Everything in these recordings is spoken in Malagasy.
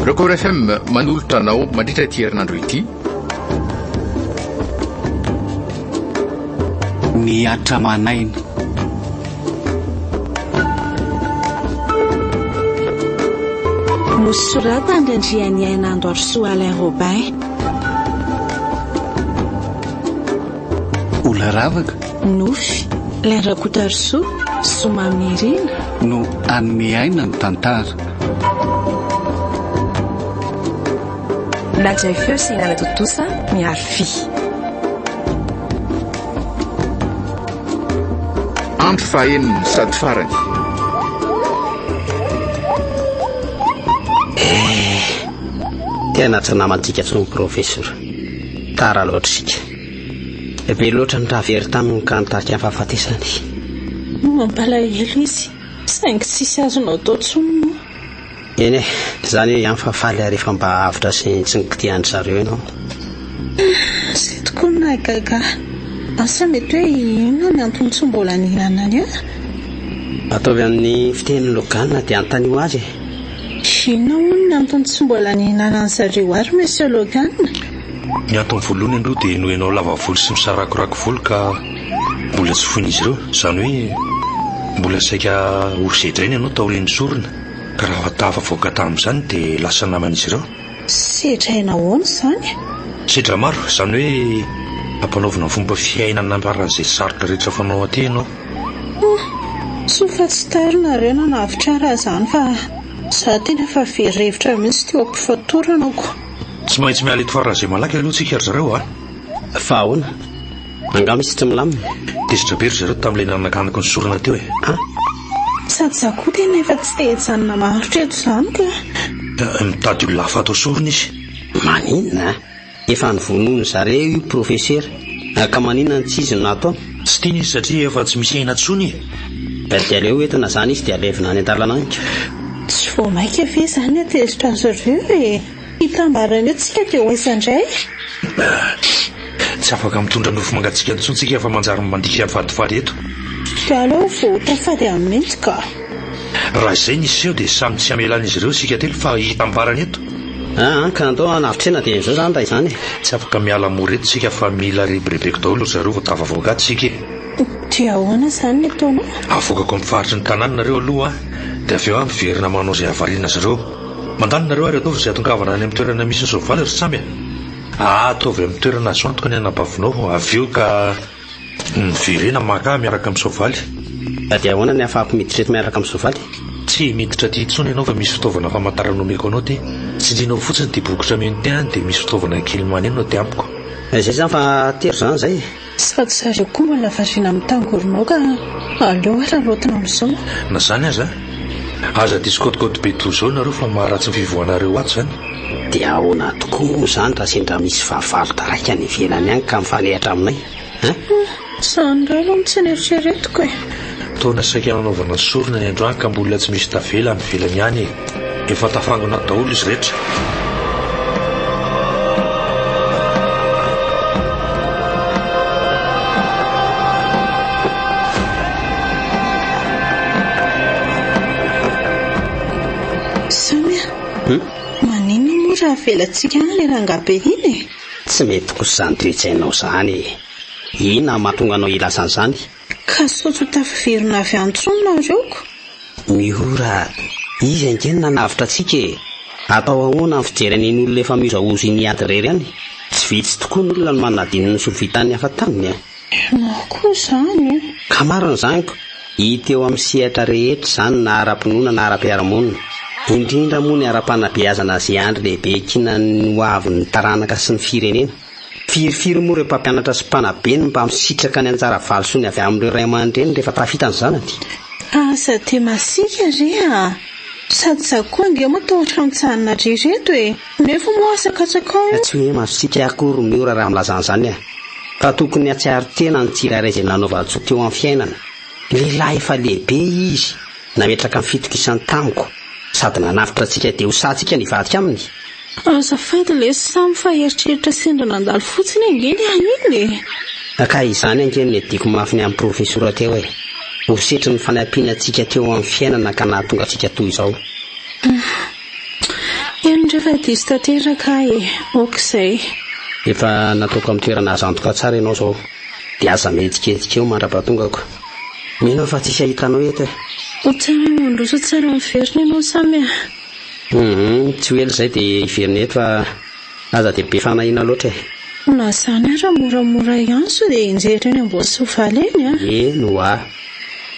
Record FM manolotra anao mandritra ity herinandro ity. Ny atra manaina. Nosoratany Randrianiaina Androarisoa Alain Robin. Olaravaka. Nofy. Ilay Rakotarisoa, Somamirina. No hanome aina ny tantara. Najay feo sy Nana Tontosa miharo fy. Andro fahenina sady farany. Eh, tena tsy namantsika intsony Professor. Tara loatra isika. Dia be loatra ny raha very taminy ka nitarika ny fahafatesany. Mampalahelo izy, saingy tsisy azonao atao intsony moa. Eny e, izany hoe ihany fa faly rehefa mba avotra sy tsy nikitihan-dry zareo ianao. Zay tokoa no nahagaga ahy. Asa mety hoe inona ny antony tsy mbola nihinanany ahy? Ataovy amin'ny fiteny Logan dia anontanio azy e. Inona hono ny antony tsy mbola nihinanan'i zareo ahy ry Monsieur Logan? Ny antony voalohany aloha dia noho ianao lava volo sy misarakorako volo ka mbola tsy foin'izy ireo. Izany hoe mbola saika ho sedraina ianao taorian'ny sorona ka raha tafavoaka tamin'izany dia lasa naman'izy ireo. Sedraina ahoana izany? Sedra-maro, izany hoe ampanaovina fomba fiainana handraran'izay sarotra rehetra fanao aty ianao. Humm, soa fa tsy tary nareo nanavotra ahy raha izany fa izaho tena efa very hevitra mihitsy teo am-pifatorana ko. Tsy maintsy miala eto faran'izay malaky aloha tsika ry zareo a! Fa ahoana? Angaha misy tsy milamina? Tezitra be ry zareo tamin'ilay nanakanaky ny sorona teo e! Ah! Sady za koa tena efa tsy te hijanona maharitra eto izany ka! Mitady olona hafa atao sorona izy. Maninona? Efa novonoin'ny zareo io profesera ka maninona no tsy izy no nataony? Tsy tiany izy satria efa tsy misy aina tsony e! Dia dia aleo entina izany izy dia alevina any an-dalana any ka! Tsy vao maika ve izany no tezitra azy ireo e! Hitambarany eo tsika dia ho aiza indray? Tsy afaka mitondra nofo mangatsiaka intsony tsika fa manjary mandika vatovato eto! Dia aleo vao ho tafady any mihitsy ka! Raha izay ny seho dia samy tsy hamelan'izy ireo isika telo fa hitambarany eto! Aa ka andao hanavitrena dia izao izany raha izany e! Tsy afaka miala mora eto tsika fa mila rebirebeko daholo ry zareo vao tafavoaka ato tsika e! Dia ahoana izany ny ataonao? Avoakako amin'ny faritry ny tanàna nareo aloha an! Dia avy eo aho miverina manao izay havariana azy ireo. Mandalo nareo ary ataovy izay atongavana any amin'ny toerana misy ny soavaly ry Samy a! Aa ataovy amin'ny toerana azo antoka ny anabavinao avy eo ka. Miverena maraha miaraka amin'ny soavaly. Ka dia ahoana ny ahafahako miditra eto miaraka amin'ny soavaly? Tsy miditra aty intsony ianao fa misy fitaovana famantarana omeko anao aty. Tsindrinao fotsiny ity bokotra mino ity any dia misy fitaovana kely maneno aty amiko. Izay izany fa tery izany izay e! Tsy fa tsy ary akoho no lavarina amin'ny tangoronao ka aleo ary araotina amin'izao. Na izany aza, Aza diso kôtikôty be toa izao nareo fa maharatsy ny fivoahanareo ato izany. Dia ahoana tokoa moa izany raha sendra misy fahavalo taraiky any ivelany any ka mifanehatra aminay an? Izany indray aloha no tsy neritreretiko e! Taona saika nanaovana sorona ny androany ka mbola tsy misy tavela any ivelany any e! Efa tafangona daholo izy rehetra. avelatsika any le rangahy be iny e. Tsy mety kosa izany toetsainao izany. Inona mahatonga anao hilaza an'izany? Ka sao tsy ho tafaverina avy any intsony nareo ko? Miora! Izy ange no nanavotra antsika e! Atao ahoana ny fijery an'in'olona efa mihozahoza iny hiady irery any? Tsy vitsy tokoa ny olona no manadino ny soa vitan'ny hafa taminy e! Marina koa izany e! Ka marina izany ko! Hita eo amin'ny sehatra rehetra izany na ara-pinoana na ara-piarahamonina. Indrindra moa ny ara-panabeazana azy andry lehibe kinan'ny ho avin'ny taranaka sy ny firenena. Firifiry moa ireo mpampianatra sy mpanabe no mba misitraka ny anjara valisoany avy amin'ireo ray aman-dreny rehefa tafita ny zanany? Aza dia masiaka re a! Sady izaho koa ange moa tao an-tranontsahanareo ireto e! Nefa moa aza katsakao io! Tsy hoe masiaka akory ry Miora raha milaza an'izany aho, fa tokony hatsiaro tena ny tsirairay izay nanaovan-tsoa teo amin'ny fiainana. Lehilahy efa lehibe izy, nametraka ny fitokisany tamiko, sady nanavotra antsika dia ho sahy antsika nivadika aminy. Azafady lesy Sam fa eritreritra sendra nandalo fotsiny ange ny ahy iny e! Ka izany ange no niadiako mafy ny an'i Profesora teo e! Ho setrin'ny fanampiana antsika teo amin'ny fiainana ka nahatonga antsika toy izao. Humm. Eny ndray fa diso tanteraka aho e! Ok izay. Efa nataoko amin'ny toerana azo antoka tsara ianao izao dia aza mihetsiketsika eo mandra-pahatongako. Mino aho fa tsisy ahitanao eto e! Tsara mandroso tsara miverina ianao Sam a! Humm tsy ho ela izay dia hiverina eto fa aza dia be fanahiana loatra e. Na izany ara moramora ihany sao dia enjehitra eny Amboasoavaly eny a! Eny ho'a.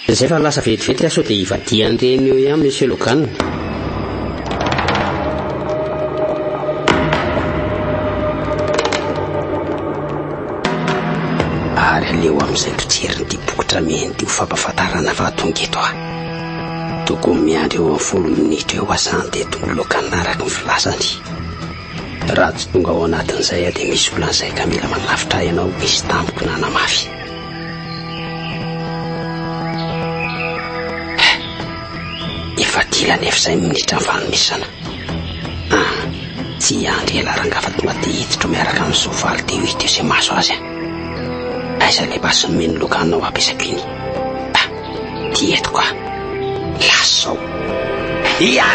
Dia izay fa lasa vetivety aho sao dia hivadihan'ireny eo ihany Monsieur Logan. Ary aleo amin'izay mpijerin'ity boky tra mihaino ity ho fampahafantarana fa tonga eto aho. Tokony miandry eo amin'ny folo minitra eo aho zany dia tonga eo Cannes araka ny filazany. Raha tsy tonga ao anatin'izay aho dia misy olana izay ka mila manavotra ahy ianao ho izy tamiko nanamafy. Efa dila nefa izay ny minitra ny fanomezana. Ah, tsy hiandry ela ranga fa tonga dia hiditra miaraka amin'ny soavaly dia hita izay mahazo azy. Aiza ilay basy nomeny loka hanao hampiasako iny? Ty eto ka. Lasa zao. Ia!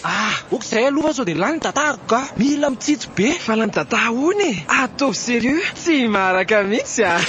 Ah! Ok zay aloha fa sao dia lany ny data-ko ka. Mila mitsitsy be. Fa lany data hono e! Ataovy serieux. Tsy maraka mihitsy ah.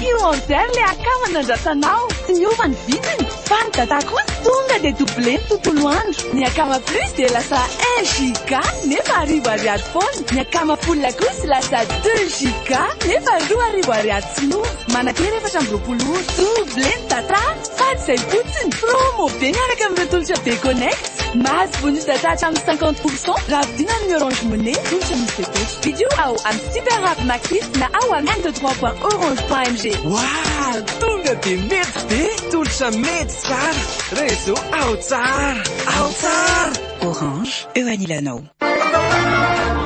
Io enzer le akama nandratsanao tsy niova ny vidiny fa ny data kosa tonga dia double ny tontolo andro, ny akama plus dia lasa un giga nefa arivo ariary foana. Ny akama Poulina kosa lasa deux giga nefa roa arivo ariary tsy lova. Manakera efatra amby roapolo ora. Double ny data fa tsy izay fotsiny. Promo be miaraka amin'ireo tolotra be connect. Mahazo bonus data hatramin'ny cinquante pour cent raha vidina amin'ny Orange Money, tolotra misy fepetra. Vidio ao amin'ny Super App Maxis na ao amin'ny m trois point orange point mg. Waah! Tonga de mety be! Tolotra mety tsara! Réseau ao tsara! Ao tsara! Orange, eo anilanao.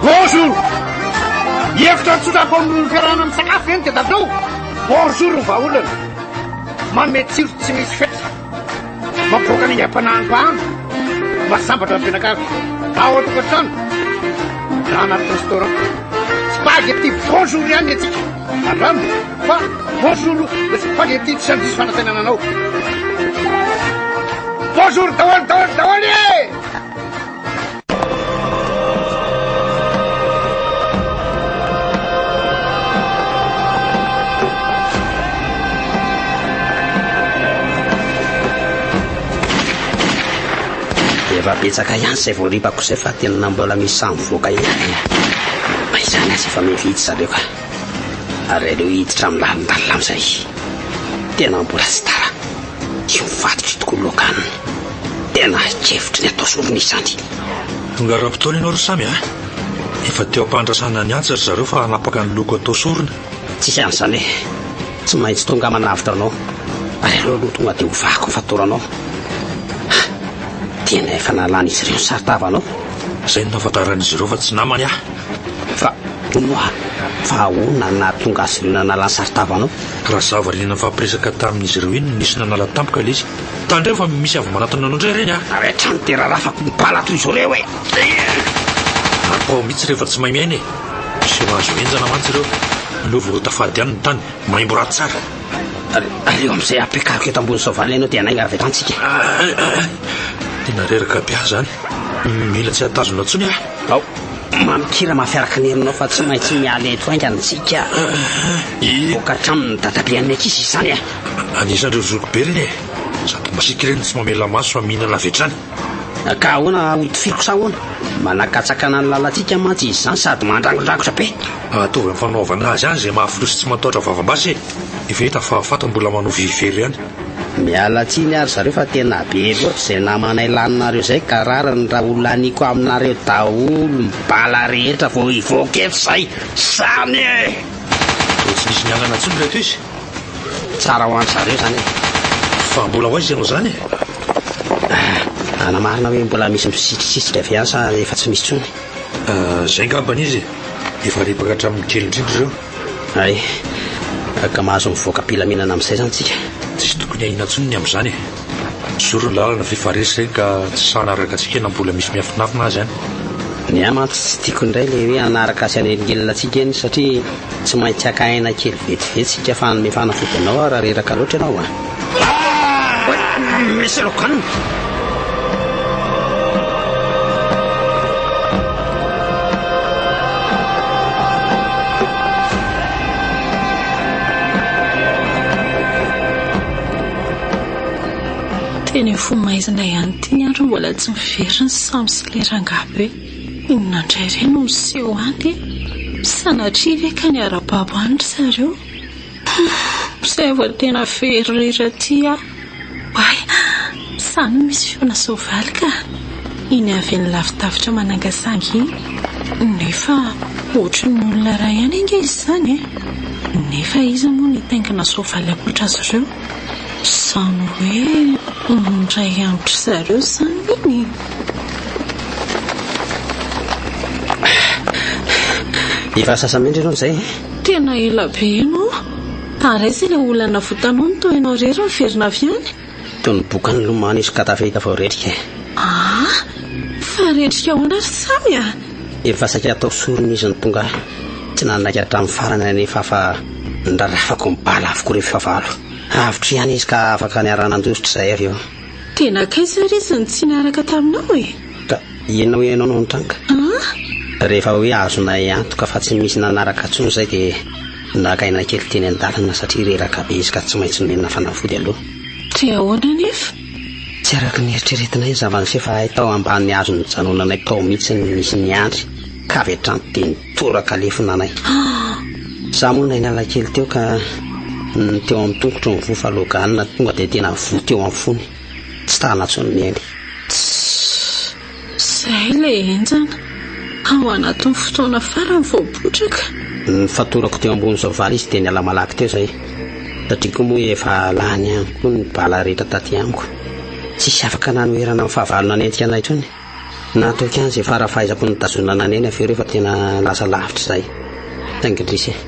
Bonjour! Hevitra tsotra atao amin'ny fiarahana misakafo ve ny tedatrao? Bonjour ny vahaolana! Manome tsiro tsy misy fetra! Mampivoaka ny aingam-panahin'ny mpahano! Mahasambatra ny mpianakavy! Ao an-tokantrano! Na anaty restaurant! Spaghetti bonjour ihany ny antsika! Andramo fa bonjour le spaghetti tsy handiso fanantenana anao! Bonjour daholo daholo daholo e! Efa betsaka ihany izay voaripako izay fa tena mbola misy samy voaka ihany. Fa izany aza efa mividy zareo ka. Ary aleo hiditra amin'ny lalindalina amin'izay. Tena mbola tsy tara. Tsy ho faty tokoa moa ka ny tena hevitry ny atao sorona izany. Tonga ara-potoana ianao ry Samy a! Efa teo am-pandrasana ny antsa ry zareo fa hanapaka ny loko atao sorona. Tsisy an'izany e! Tsy maintsy tonga manavotra anao ary aleo aloha tonga dia ovako ny fatoranao. Ha! Tena efa nalan'izy ireo ny saron-tavanao? Izay no nahafantaran'izy ireo fa tsy namany aho. Fa hono oa, fa ahoana no nahatonga azy ireo nanala ny saron-tavanao? Raha zava liana nifampiresaka tamin'izy ireo iny no nisy nanala tampoka ilay izy. Tandremo fa misy avy manatona anao indray ireny a! Ary hatrany dia rarafako ny bala toy izao ireo e! Ary pao mihitsy rehefa tsy mahay miaina e! Tsy mahazo henjana mantsy ireo. Aleo vorota fady ihany ny tany, maimbo ra tsara. Ary aleo amin'izay ampiakariko eto ambony soavaly ianao dia hanainga avy eto antsika. Tena reraka be aho izany. Mila tsy hatazona intsony aho. Ao. Mamin-kira mafy araka ny herinao fa tsy maintsy miala eto haingana isika. Hivoaka hatramin'ny dadabean'ny ankizy izany e! Anisan'ireo zoky be ireny e! Sady masiaka ireny tsy mamela maso fa mihinana avy hatrany. Ka ahoana hotifiriko sa ahoana? Manakatsakana ny lalantsika mantsy izy izany sady mandrangondrangotra be. Ataovy amin'ny fanaovana azy ihany izay mahafoy sy tsy matahotra vavam-basy e! Efa hita fa Fat mbola manohy very ihany. Miala tsiny ary zareo fa tena be loatra zay namanay laninareo zay ka rariny raha ho laniko aminareo daholo ny bala rehetra vao hivoaka eto zay. Zany e! Tsy misy mialana tsony reto izy. Tsara ho an zareo zany e. Fa mbola ho aiza ianao zany e? Ah, ana marina hoe mbola misy misitrisitrika avy any sa efa tsy misy tsony? Ah, zay ngambany izy e. Efa ripaka hatramin'ny kely indrindra ireo. Hay, ka mahazo mivoaka am-pilaminana amin'izay izany isika. Tsy tokony ahiana intsony ny amin'izany e! Zoro ny lalana ve fa resy izay ka tsy sahy hanaraka antsika na mbola misy miafinafina azy any? Ny ahy mantsy tsy tiako indray ilay hoe hanaraka sy hanelingelina antsika eny satria tsy maintsy haka aina kely vetivety isika fa hanome fanafody anao aho raha reraka loatra ianao a! Misy loganina! Teny amin'ny fony maizina ihany ity ny andro mbola tsy mivery ny samy sy ilay rangahy be. Inona indray re no miseho any e? Sanatria ve ka niara-babo any ry zareo? Mpisay vao tena very irery aty ah. Oay, sa no misy feona soavaly ka? Iny avy any lavidavitra manangasangy iny. Nefa ohatry ny olona iray ihany ange izy izany e. Nefa iza moa no hitaingina soavaly ankoatra azy ireo? Izany hoe indray andro ry zareo izany iny e. Efa sasa mendrika ianao izay e. Tena ela be ianao Ary aiza ilay olana votanony toa ianao irery miverina avy any? Toy ny boka nilomano izy ka tafita vao retrika e! Aa! Fa retrika ahoana ry Samy a? Efa saika hatao sorona izy no tonga aho. Tsy nanaiky hatramin'ny farany anefa aho fa nirarafako ny bala avokoa ireo fahavalo. Avotra ihany izy ka afaka niara-nandositra izahay avy eo. Dia nankaiza ary izy no tsy niaraka taminao e? Ka ianao ianao no nitranga? An? Rehefa hoe azonay antoka fa tsy misy nanaraka intsony izay dia naka aina kely teny an-dalana satria reraka be izy ka tsy maintsy nomenina fanafody aloha. Dia ahoana anefa? Tsy araka ny eritreretinay ny zava-niseho fa hay tao ambany hazo nijanonanay tao mihitsy no nisy ny andry ka avy hatrany dia Toraka lefona anay. Za moa nay niala kely teo ka ny teo amin'ny tongotro ny voa fa loganina tonga dia tena voa teo amin'ny fony. Tsy tana intsony ny ainy. Tss! Zay ilay henjana. Ao anatin'ny fotoana farany vao potraka. Nifatorako teo ambony soavaly izy dia niala malaky teo izay. Satria koa moa efa lany ihany koa ny bala rehetra taty amiko. Tsisy afaka nanoherana ny fahavalo nanenjika anay intsony. Natoky an'izay fara fahaizako nitazonana anay ny affaire io fa tena lasa lavitra izay. Thank you Drisy eh.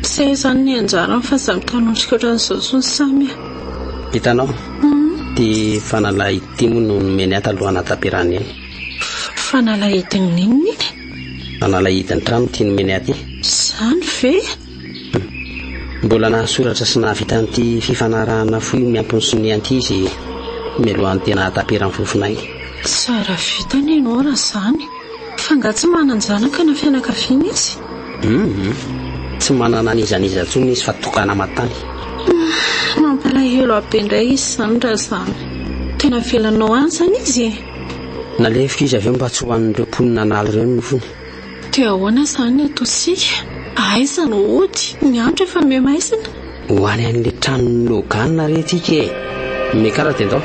Tsy hay izany ny anjarany fa za mitanondrika ohatran'izao intsony Samy ah. Hitanao? Ity fanalahy ity moa no nomeny ahy talohan'ny hataperany iny. Fanalahidin'ny inona iny? Fanalahidin'ny trano ity nomeny ahy ity. Izany ve? Mbola nahasoratra sy nahavita an'ity fifanarahana fohy miampy ny sonia ity izy mialohan'ny tena hahataperan'ny fofonay. Tsara vita anie ianao raha izany. F'angaha tsy manan-janaka na fianakaviana izy? Humm. Tsy manana an'iza an'iza intsony izy fa tokana matany. Humm. Mampalahelo ahy be indray izy izany raha izany. Tena avelanao any izany izy e? Nalefiko izy avy eo mba tsy ho an'ireo mponina an'ala ireo ny nofony. Dia ahoana izany ny ataontsika? Aiza no hody? Ny andro efa mihamaizina. Ho any an'ilay tranon'i Logan re tsika e! Ny karatra indao.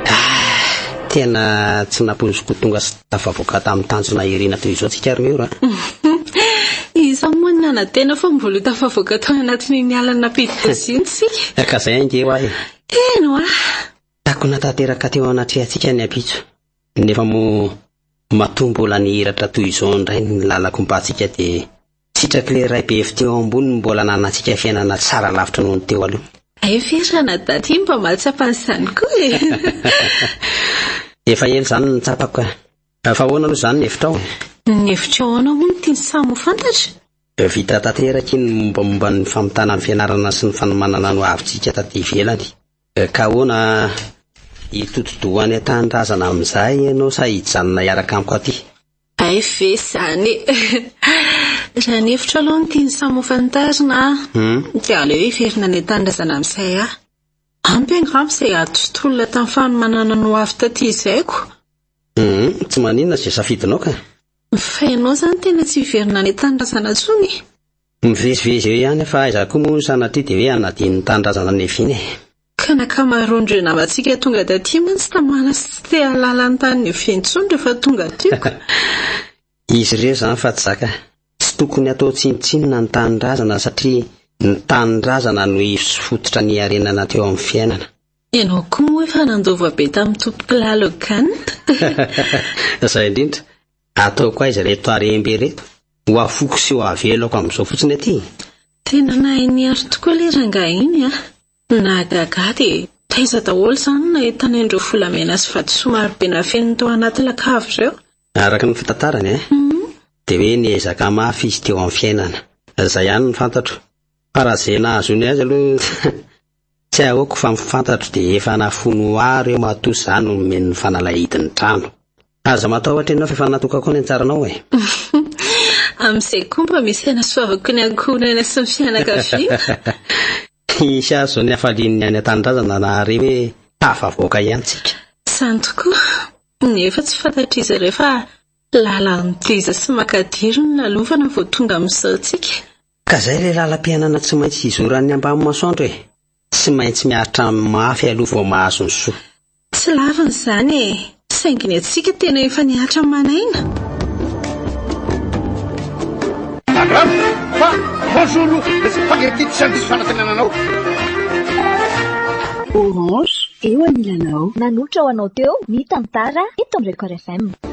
Ah, tena tsy nampoiziko ho tonga Tafavoaka tamin'ny tanjona irina toy izao tsika ry Mur a! Iza moa no nanantena fa mbola ho tafavoaka tao anatin'iny alina nampidi-doza iny tsika? Ka izay ange hoa e! Eny hoa! Takona tanteraka teo anatrehantsika ny ampitso, nefa moa matoa mbola nihiratra toy izao indray ny lalako mba tsika dia Sitrak'ilay Ray be fo teo ambony no mbola ananantsika fiainana tsara lavitra noho ny teo aloha. Hay ve raha na daty iny mba mahatsapa an'izany koa e! Efa ela izany no nitsapako ka. Fa ahoana aloha izany ny hevitrao e? Ny hevitrao ahoana moa no tian'ny samy ho fantatra? Vita tanteraka iny ny mombamomba ny famitana ny fianarana sy ny fanomanana ny hoavintsika taty ivelany. Ka ahoana, hitodi-doha any an-tanindrazana amin'izay ianao sa hijanona hiaraka amiko aty? Hay ve izany e! Raha ny hevitro aloha ny tiany samy ho fantarina dia aleo heverina ny tanindrazana amin'izay aho. Ampy angamba izay ady sy tolona tamin'ny fanomanana ny ho avy taty izayko. Tsy maninona izay safidinao ka. Fa ianao izany tena tsy hiverina any an-tanindrazana intsony e! Mivezivezy eo ihany fa aiza koa moa ny sanatria dia hoe hanadino ny tanindrazana Nevina e. Ka ny ankamaroan'ireo namantsika tonga taty mantsy tsy tamana sy tsy te hahalala ny tany Nevy intsony rehefa tonga teo ka. Izy ireo izany fa tsy zaka. Tsy tokony hatao tsinontsinona ny tanindrazana satria ny tanindrazana no ivo sy fototra niarenana teo amin'ny fiainana. Ianao koa moa efa nandova be tamin'ny tompokolaly Hogan. Izay indrindra. Ataoko aiza reto harem-be ireto? Ho afoko sy ho avelako amin'izao fotsiny aty e! Tena nahay niaro tokoa ilay rangahy iny a! Nahagaga ahy dia taiza daholo izany no nahitana ireo volamena sy vatosoa marobe nafeniny tao anaty lakavy ireo? Araka ny fitantarany e, dia hoe niezaka mafy izy teo amin'ny fiainana. Izay ihany no fantatro. Fa raha izay nahazoany azy aloha. Tsy ahoako fa ny fantatro dia efa nafoiny ho ahy ireo matoa za no nomeny ny fanalahidin'ny trano. Aza matahotra ianao fa efa natokako ny hatsaranao e! Amin'izay koa mba misy hanasoavako ny ankohonana sy ny fianakaviana. Hisy azo ny hafalian'ny any an-tanindrazana nahare hoe tafavoaka ihany tsika. Izany tokoa, nefa tsy fantatr'izy ireo fa lalan-teza sy makadiry no nalovana vao tonga amin'izao tsika. Ka zay ilay lalam-piainana tsy maintsy hizoran'ny ambany masoandro e! Tsy maintsy miaritra mafy aloha vao mahazo ny soa. Tsy lavina izany e! Saingy ny antsika tena efa nihatra ny man'aina! Abraham, fa bonjour aloha, le spaghetti tsy handiso fanatenana anao. Orange, eo anilanao. Nanohitra ho anao teo ny tantara eto amin'ny Record FM.